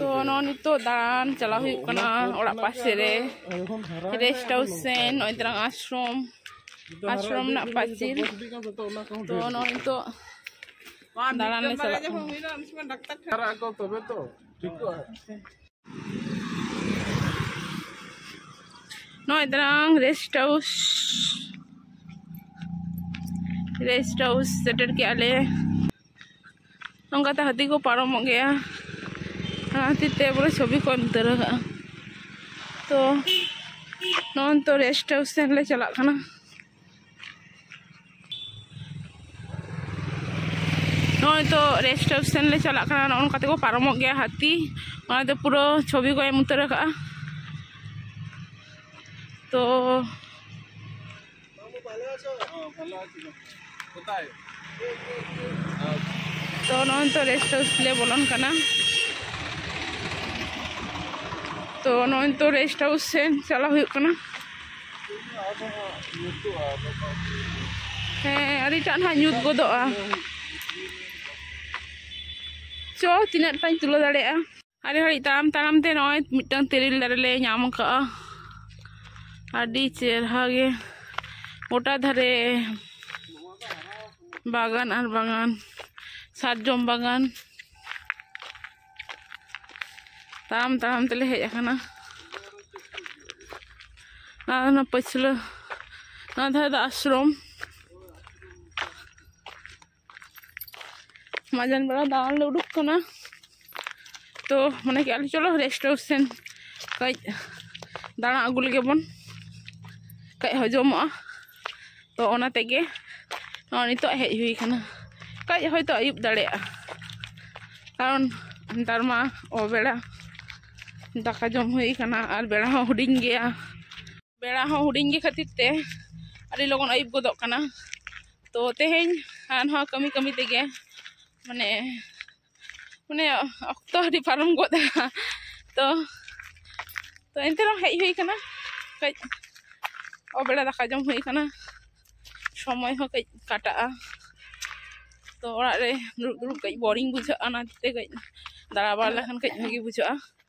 ᱛᱚ ᱱᱚᱜᱼᱚᱭ ᱱᱤᱛᱚᱜ ᱫᱟᱬᱟᱱ ᱪᱟᱞᱟᱣ ᱦᱩᱭᱩᱜ ᱠᱟᱱᱟ ᱚᱲᱟᱜ ᱯᱟᱥᱮ ᱨᱮ ᱨᱮᱥᱴ ᱦᱟᱣᱩᱥ ᱥᱮᱱ ᱱᱚᱜᱼᱚᱭ ᱛᱟᱞᱟᱝ ᱟᱥᱨᱚᱢ ᱟᱥᱨᱚᱢ ᱨᱮᱱᱟᱜ ᱯᱟᱹᱪᱤᱨ ᱛᱚ ᱱᱚᱜᱼᱚᱭ ᱱᱤᱛᱚᱜ ᱫᱟᱬᱟᱱ ᱞᱮ ᱪᱟᱞᱟᱜ ᱠᱟᱱᱟ ᱱᱚᱜᱼᱚᱭ ᱛᱟᱨᱟᱝ ᱨᱮᱥᱴ ᱦᱟᱣᱩᱥ ᱨᱮᱥᱴ ᱦᱟᱣᱩᱥ ᱥᱮᱴᱮᱨ ᱠᱮᱜᱼᱟ ᱞᱮ ᱱᱚᱝᱠᱟᱛᱮ ᱦᱟᱹᱛᱤ ᱠᱚ ᱯᱟᱨᱚᱢᱚᱜ ᱜᱮᱭᱟ ᱚᱱᱟ ᱠᱷᱟᱹᱛᱤᱨ ᱛᱮ ᱵᱚᱞᱮ ᱪᱷᱚᱵᱤ ᱠᱚ ᱮᱢ ᱩᱛᱟᱹᱨ ᱟᱠᱟᱜᱼᱟ ᱛᱚ ᱱᱚᱜᱼᱚᱭ ᱱᱤᱛᱚᱜ ᱨᱮᱥᱴ ᱦᱟᱣᱩᱥ ᱥᱮᱱ ᱞᱮ ᱪᱟᱞᱟᱜ ᱠᱟᱱᱟ ᱱᱚᱜᱼᱚᱭ ᱛᱚ ᱨᱮᱥᱴ ᱦᱟᱣᱩᱥ ᱥᱮᱱ ᱞᱮ ᱪᱟᱞᱟᱜ ᱠᱟᱱᱟ ᱱᱚᱜᱼᱚ ᱱᱚᱝᱠᱟ ᱛᱮᱠᱚ ᱯᱟᱨᱚᱢᱚᱜ ᱜᱮᱭᱟ ᱦᱟᱹᱛᱤ ᱚᱱᱟ ᱫᱚ ᱯᱩᱨᱟᱹ ᱪᱷᱚᱵᱤ ᱠᱚ ᱮᱢ ᱩᱛᱟᱹᱨ ᱟᱠᱟᱜᱼᱟ ᱛᱚ ᱛᱚ ᱱᱚᱜᱼᱚᱭ ᱱᱤᱛᱚᱜ ᱨᱮᱥᱴ ᱦᱟᱣᱩᱥ ᱞᱮ ᱵᱚᱞᱚᱱ ᱠᱟᱱᱟ ᱛᱚ ᱱᱚᱜᱼᱚᱭ ᱱᱤᱛᱚᱜ ᱨᱮᱥᱴ ᱦᱟᱣᱩᱥ ᱥᱮᱱ ᱪᱟᱞᱟᱣ ᱦᱩᱭᱩᱜ ᱠᱟᱱᱟ ᱦᱮᱸ ᱟᱹᱰᱤᱴᱟᱜ ᱱᱟᱦᱟᱜ ᱧᱩᱛ ᱜᱚᱫᱚᱜᱼᱟ ᱪᱚ ᱛᱤᱱᱟᱹᱜ ᱴᱟᱧ ᱛᱩᱞᱟᱹᱣ ᱫᱟᱲᱮᱭᱟᱜᱼᱟ ᱟᱹᱰᱤ ᱜᱷᱟᱹᱲᱤᱡ ᱛᱟᱲᱟᱢ ᱛᱟᱲᱟᱢ ᱛᱮ ᱱᱚᱜᱼᱚᱭ ᱢᱤᱫᱴᱟᱝ ᱛᱮᱨᱮᱞ ᱫᱟᱨᱮ ᱞᱮ ᱧᱟᱢ ᱟᱠᱟᱫᱼᱟ ᱟᱹᱰᱤ ᱪᱮᱨᱦᱟ ᱜᱮ ᱜᱚᱴᱟ ᱫᱷᱟᱨᱮ ᱵᱟᱜᱟᱱ ᱟᱨ ᱵᱟᱜᱟᱱ ᱥᱟᱨᱡᱚᱢ ᱵᱟᱜᱟᱱ ᱛᱟᱲᱟᱢ ᱛᱟᱲᱟᱢ ᱛᱮᱞᱮ ᱦᱮᱡ ᱟᱠᱟᱱᱟ ᱟᱨ ᱚᱱᱟ ᱯᱟᱹᱪᱷᱞᱟᱹ ᱱᱚᱣᱟ ᱫᱷᱟᱨᱮ ᱫᱚ ᱟᱥᱨᱚᱢ ᱢᱟᱡᱟᱱ ᱵᱮᱲᱟ ᱫᱟᱬᱟᱱ ᱞᱮ ᱩᱰᱩᱠ ᱠᱟᱱᱟ ᱛᱚ ᱢᱚᱱᱮ ᱠᱮᱜᱼᱟ ᱞᱮ ᱪᱚᱞᱚ ᱨᱮᱥᱴ ᱦᱟᱣᱩᱥ ᱥᱮᱱ ᱠᱟᱹᱡ ᱫᱟᱬᱟ ᱟᱹᱜᱩ ᱞᱮᱜᱮ ᱵᱚᱱ ᱠᱟᱹᱡ ᱦᱚᱡᱚᱢᱚᱜᱼᱟ ᱛᱚ ᱚᱱᱟ ᱛᱮᱜᱮ ᱱᱚᱜᱼᱚᱭ ᱱᱤᱛᱚᱜ ᱦᱮᱡ ᱦᱩᱭ ᱠᱟᱱᱟ ᱠᱟᱹᱡ ᱦᱚᱭᱛᱳ ᱟᱹᱭᱩᱵ ᱫᱟᱲᱮᱭᱟᱜᱼᱟ ᱠᱟᱨᱚᱱ ᱱᱮᱛᱟᱨ ᱢᱟ ᱚᱵᱮᱲᱟ ᱫᱟᱠᱟ ᱡᱚᱢ ᱦᱩᱭ ᱠᱟᱱᱟ ᱟᱨ ᱵᱮᱲᱟ ᱦᱚᱸ ᱦᱩᱰᱤᱧ ᱜᱮᱭᱟ ᱵᱮᱲᱟ ᱦᱚᱸ ᱦᱩᱰᱤᱧ ᱜᱮ ᱠᱷᱟᱹᱛᱤᱨ ᱛᱮ ᱟᱹᱰᱤ ᱞᱚᱜᱚᱱ ᱟᱹᱭᱩᱵ ᱜᱚᱫᱚᱜ ᱠᱟᱱᱟ ᱛᱚ ᱛᱮᱦᱮᱧ ᱟᱨ ᱱᱚᱣᱟ ᱠᱟᱹᱢᱤ ᱠᱟᱹᱢᱤ ᱛᱮᱜᱮ ᱢᱟᱱᱮ ᱢᱟᱱᱮ ᱚᱠᱛᱚ ᱟᱹᱰᱤ ᱯᱟᱨᱚᱢ ᱜᱚᱫ ᱮᱱᱟ ᱛᱚ ᱛᱚ ᱮᱱᱛᱮ ᱨᱮᱦᱚᱸ ᱦᱮᱡ ᱦᱩᱭ ᱠᱟᱱᱟ ᱠᱟᱹᱡ ᱚᱵᱮᱲᱟ ᱫᱟᱠᱟ ᱡᱚᱢ ᱦᱩᱭ ᱠᱟᱱᱟ ᱥᱚᱢᱚᱭ ᱦᱚᱸ ᱠᱟᱹᱡ ᱠᱟᱴᱟᱜᱼᱟ ᱛᱚ ᱚᱲᱟᱜ ᱨᱮ ᱫᱩᱲᱩᱵ ᱫᱩᱲᱩᱵ ᱠᱟᱹᱡ ᱵᱳᱨᱤᱝ ᱵᱩᱡᱷᱟᱹᱜᱼᱟ ᱚᱱᱟᱛᱮ ᱠᱟᱹᱡ ᱫᱟᱬᱟ ᱵᱟᱲᱟ ᱞᱮᱠᱷᱟᱱ ᱠᱟᱹᱡ ᱵᱷᱟᱹᱜᱤ ᱵᱩᱡᱷᱟᱹᱜᱼᱟ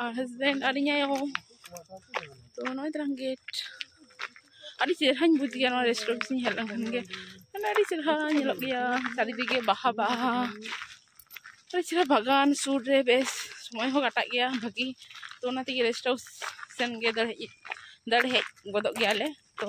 ᱟᱨ ᱦᱟᱥᱵᱮᱱᱰ ᱟᱨ ᱤᱧ ᱟᱭᱳ ᱛᱚ ᱱᱚᱜᱼᱚᱭ ᱛᱟᱞᱟᱝ ᱜᱮᱴ ᱟᱹᱰᱤ ᱪᱮᱦᱨᱟᱧ ᱵᱩᱡᱽ ᱜᱮᱭᱟ ᱱᱚᱣᱟ ᱨᱮᱥᱴᱩᱨᱮᱱᱴ ᱥᱮᱫ ᱤᱧ ᱦᱮᱡ ᱞᱮᱱᱠᱷᱟᱱ ᱜᱮ ᱢᱟᱱᱮ ᱟᱹᱰᱤ ᱪᱮᱦᱨᱟ ᱧᱮᱞᱚᱜ ᱜᱮᱭᱟ ᱪᱟᱨᱤᱫᱤᱠᱮ ᱵᱟᱦᱟ ᱵᱟᱦᱟ ᱟᱹᱰᱤ ᱪᱮᱦᱨᱟ ᱵᱟᱜᱟᱱ ᱥᱩᱨ ᱨᱮ ᱵᱮᱥ ᱥᱚᱢᱚᱭ ᱦᱚᱸ ᱠᱟᱴᱟᱜ ᱜᱮᱭᱟ ᱵᱷᱟᱹᱜᱤ ᱛᱚ ᱚᱱᱟ ᱛᱮᱜᱮ ᱨᱮᱥᱴ ᱦᱟᱣᱩᱥ ᱥᱮᱱᱜᱮ ᱫᱟᱹᱲ ᱦᱮᱡ ᱫᱟᱹᱲ ᱦᱮᱡ ᱜᱚᱫᱚᱜ ᱜᱮᱭᱟᱞᱮ ᱛᱚ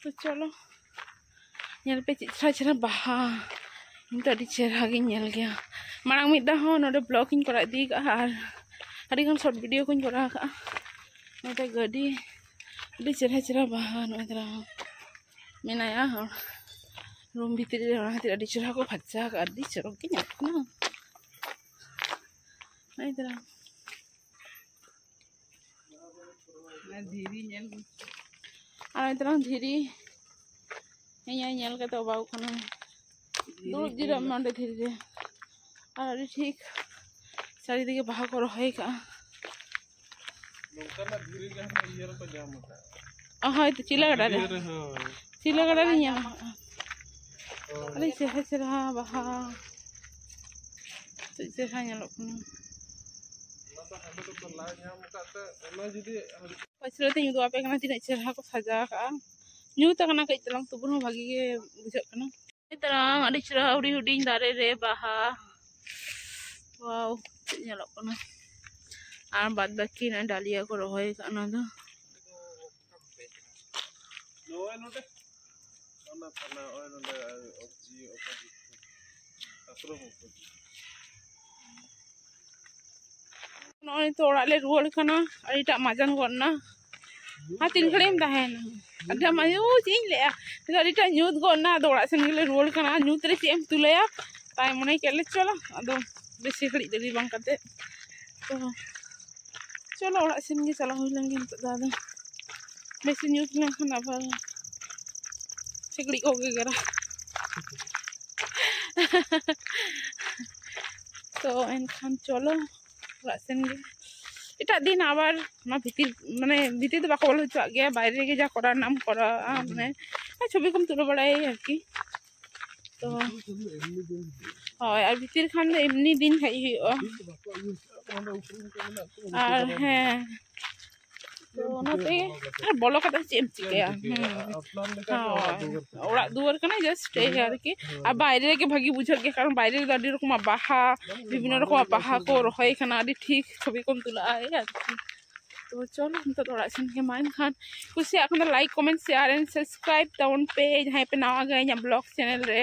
ᱛᱚ ᱪᱚᱞᱚ ᱧᱮᱞ ᱯᱮ ᱪᱮᱫ ᱪᱮᱦᱨᱟ ᱪᱮᱦᱨᱟ ᱵᱟᱦᱟ ᱤᱧ ᱫᱚ ᱟᱹᱰᱤ ᱪᱮᱦᱨᱟ ᱜᱤᱧ ᱧᱮᱞ ᱜᱮᱭᱟ ᱢᱟᱲᱟᱝ ᱢᱤᱫ ᱫᱷᱟᱣ ᱦᱚᱸ ᱱᱚᱰᱮ ᱵᱞᱚᱜ ᱤᱧ ᱠᱚᱨᱟᱣ ᱤᱫᱤ ᱠᱟᱜᱼᱟ ᱟᱨ ᱟᱹᱰᱤᱜᱟᱱ ᱥᱚᱨᱴ ᱵᱷᱤᱰᱤᱭᱳ ᱠᱚᱧ ᱠᱚᱨᱟᱣ ᱠᱟᱜᱼᱟ ᱱᱚᱰᱮ ᱜᱟᱹᱰᱤ ᱟᱹᱰᱤ ᱪᱮᱦᱨᱟ ᱪᱮᱦᱨᱟ ᱵᱟᱦᱟ ᱱᱚᱜᱼᱚᱭ ᱫᱟᱨᱟ ᱢᱮᱱᱟᱭᱟ ᱦᱚᱲ ᱨᱩᱢ ᱵᱷᱤᱛᱨᱤ ᱨᱮ ᱚᱱᱟ ᱠᱷᱟᱹᱛᱤᱨ ᱟᱹᱰᱤ ᱪᱮᱦᱨᱟ ᱠᱚ ᱯᱷᱟᱨᱪᱟ ᱠᱟᱜᱼᱟ ᱟᱹᱰᱤ ᱪᱚᱨᱚᱠ ᱜᱮ ᱧᱮᱞᱚᱜ ᱠᱟᱱᱟ ᱱᱚᱜᱼᱚᱭ ᱫᱟᱨᱟ ᱫᱷᱤᱨᱤ ᱧᱮᱞ ᱟᱨ ᱱᱤᱛᱚᱝ ᱫᱷᱤᱨᱤ ᱤᱧ ᱧᱮᱞ ᱠᱟᱛᱮ ᱚᱵᱟᱜ ᱠᱟᱱᱟ ᱫᱩᱲᱩᱵ ᱡᱤᱨᱟᱹᱜ ᱢᱮ ᱚᱸᱰᱮ ᱫᱷᱤᱨᱤ ᱨᱮ ᱟᱨ ᱟᱹᱰᱤ ᱴᱷᱤᱠ ᱪᱟᱨᱤᱫᱤᱠᱮ ᱵᱟᱦᱟ ᱠᱚ ᱨᱚᱦᱚᱭ ᱠᱟᱜᱼᱟ ᱱᱚᱝᱠᱟᱱᱟᱜ ᱫᱷᱤᱨᱤ ᱜᱮ ᱤᱭᱟᱹ ᱨᱮᱠᱚ ᱧᱟᱢ ᱟᱠᱟᱫᱼᱟ ᱦᱳᱭ ᱛᱚ ᱪᱤᱞᱟ ᱜᱟᱰᱟ ᱨᱮ ᱪᱤᱞᱟ ᱜᱟᱰᱟ ᱨᱮ ᱧᱟᱢᱟ ᱟᱹᱰᱤ ᱪᱮᱦᱨᱟ ᱪᱮᱦᱨᱟ ᱵᱟᱦᱟ ᱪᱮᱫ ᱪᱮᱦᱨᱟ ᱧᱮᱞᱚᱜ ᱠᱟᱱᱟ ᱯᱟᱹᱪᱷᱞᱟᱹ ᱛᱮᱧ ᱩᱫᱩᱜ ᱟᱯᱮ ᱠᱟᱱᱟ ᱛᱤᱱᱟᱹᱜ ᱪᱮᱦᱨᱟ ᱠᱚ ᱥᱟᱡᱟᱣ ᱠᱟᱜᱼᱟ ᱧᱩᱛ ᱟᱠᱟᱱᱟ ᱠᱟᱹᱡ ᱪᱟᱞᱟᱝ ᱛᱚᱵᱩ ᱨᱮᱦᱚᱸ ᱵᱷᱟᱹᱜᱤ ᱜᱮ ᱵᱩᱡᱷᱟᱹᱜ ᱠᱟᱱᱟ ᱛᱟᱨᱟᱝ ᱟᱹᱰᱤ ᱪᱮᱦᱨᱟ ᱦᱩᱰᱤᱧ ᱦᱩᱰᱤᱧ ᱫᱟᱨᱮ ᱨᱮ ᱵᱟᱦᱟ ᱣᱟᱣ ᱪᱮᱫ ᱧᱮᱞᱚᱜ ᱠᱟᱱᱟ ᱟᱨ ᱵᱟᱫ ᱵᱟᱹᱠᱤ ᱱᱚᱜᱼᱚᱭ ᱰᱟᱞᱤᱭᱟ ᱠᱚ ᱨᱚᱦᱚᱭ ᱟᱠᱟᱫ ᱚᱱᱟ ᱫᱚ ᱱᱚᱜᱼᱚᱭ ᱛᱚ ᱚᱲᱟᱜ ᱞᱮ ᱨᱩᱣᱟᱹᱲ ᱠᱟᱱᱟ ᱟᱹᱰᱤᱴᱟᱜ ᱢᱟᱡᱟᱱ ᱜᱚᱫ ᱮᱱᱟ ᱟᱨ ᱛᱤᱱ ᱜᱷᱟᱹᱲᱤᱡ ᱮᱢ ᱛᱟᱦᱮᱱᱟ ᱟᱫᱚ ᱟᱭᱳ ᱪᱮᱫ ᱤᱧ ᱞᱟᱹᱭᱟ ᱱᱤᱛᱚᱜ ᱟᱹᱰᱤᱴᱟᱜ ᱧᱩᱛ ᱜᱚᱫ ᱮᱱᱟ ᱟᱫᱚ ᱚᱲᱟᱜ ᱥᱮᱱ ᱜᱮᱞᱮ ᱨᱩᱣᱟᱹᱲ ᱠᱟᱱᱟ ᱧᱩᱛ ᱨᱮ ᱪᱮᱫ ᱮᱢ ᱛᱩᱞᱟᱹᱭᱟ ᱛᱟᱭ ᱢᱚᱱᱮ ᱠᱮᱫ ᱞᱮ ᱪᱚᱞᱚ ᱟᱫᱚ ᱵᱮᱥᱤ ᱜᱷᱟᱹᱲᱤᱡ ᱫᱮᱨᱤ ᱵᱟᱝ ᱠᱟᱛᱮᱫ ᱛᱚ ᱪᱚᱞᱚ ᱚᱲᱟᱜ ᱥᱮᱱ ᱜᱮ ᱪᱟᱞᱟᱣ ᱦᱩᱭ ᱞᱮᱱ ᱜᱮ ᱱᱤᱛᱚᱜ ᱫᱚ ᱟᱫᱚ ᱵᱮᱥᱤ ᱧᱩᱛ ᱞᱮᱱᱠᱷᱟᱱ ᱟᱵᱟᱨ ᱥᱤᱠᱲᱤᱡ ᱠᱚ ᱜᱮᱜᱮᱨᱟ ᱛᱚ ᱮᱱᱠᱷᱟᱱ ᱪᱚᱞᱚ ᱚᱲᱟᱜ ᱥᱮᱱ ᱜᱮ ᱮᱴᱟᱜ ᱫᱤᱱ ᱟᱵᱟᱨ ᱚᱱᱟ ᱵᱷᱤᱛᱤᱨ ᱢᱟᱱᱮ ᱵᱷᱤᱛᱤᱨ ᱫᱚ ᱵᱟᱠᱚ ᱵᱚᱞᱚ ᱦᱚᱪᱚᱣᱟᱜ ᱜᱮᱭᱟ ᱵᱟᱭᱨᱮ ᱨᱮᱜᱮ ᱡᱟ ᱠᱚᱨᱟᱣ ᱨᱮᱱᱟᱜ ᱮᱢ ᱠᱚᱨᱟᱣᱟ ᱢᱟᱱᱮ ᱪᱷᱚᱵᱤ ᱠᱚᱢ ᱛᱩᱞᱟᱹᱣ ᱵᱟᱲᱟᱭᱟ ᱟᱨᱠᱤ ᱛᱚ ᱦᱳᱭ ᱟᱨ ᱵᱷᱤᱛᱤᱨ ᱠᱷᱟᱱ ᱫᱚ ᱮᱢᱱᱤ ᱫᱤᱱ ᱦᱮᱡ ᱦᱩᱭᱩᱜᱼᱟ ᱟᱨ ᱦᱮᱸ ᱛᱚ ᱚᱱᱟᱛᱮ ᱟᱨ ᱵᱚᱞᱚ ᱠᱟᱛᱮ ᱪᱮᱫ ᱮᱢ ᱪᱤᱠᱟᱹᱭᱟ ᱚᱲᱟᱜ ᱫᱩᱣᱟᱹᱨ ᱠᱟᱱᱟ ᱡᱟᱥᱴ ᱮᱭ ᱟᱨᱠᱤ ᱟᱨ ᱵᱟᱭᱨᱮ ᱨᱮᱜᱮ ᱵᱷᱟᱹᱜᱤ ᱵᱩᱡᱷᱟᱹᱜ ᱜᱮᱭᱟ ᱠᱟᱨᱚᱱ ᱵᱟᱭᱨᱮ ᱨᱮᱫᱚ ᱟᱹᱰᱤ ᱨᱚᱠᱚᱢᱟᱜ ᱵᱟᱦᱟ ᱵᱤᱵᱷᱤᱱᱱᱚ ᱨᱚᱠᱚᱢᱟᱜ ᱵᱟᱦᱟ ᱠᱚ ᱨᱚᱦᱚᱭ ᱠᱟᱱᱟ ᱟᱹᱰᱤ ᱴᱷᱤᱠ ᱪᱷᱚᱵᱤ ᱠᱚᱢ ᱛᱩᱞᱟᱹᱜᱼᱟ ᱮᱭ ᱟᱨᱠᱤ ᱛᱚ ᱪᱚᱞᱚ ᱱᱤᱛᱚᱜ ᱚᱲᱟᱜ ᱥᱮᱱ ᱜᱮ ᱢᱟ ᱮᱱᱠᱷᱟᱱ ᱠᱩᱥᱤᱭᱟᱜ ᱠᱷᱟᱱ ᱫᱚ like comment share and subscribe ᱛᱟᱵᱚᱱ ᱯᱮ ᱡᱟᱦᱟᱸᱭ ᱯᱮ ᱱᱟᱣᱟ ᱜᱮᱭᱟ ᱤᱧᱟᱹᱜ ᱵᱞᱚᱜ ᱪᱮᱱᱮᱞ ᱨᱮ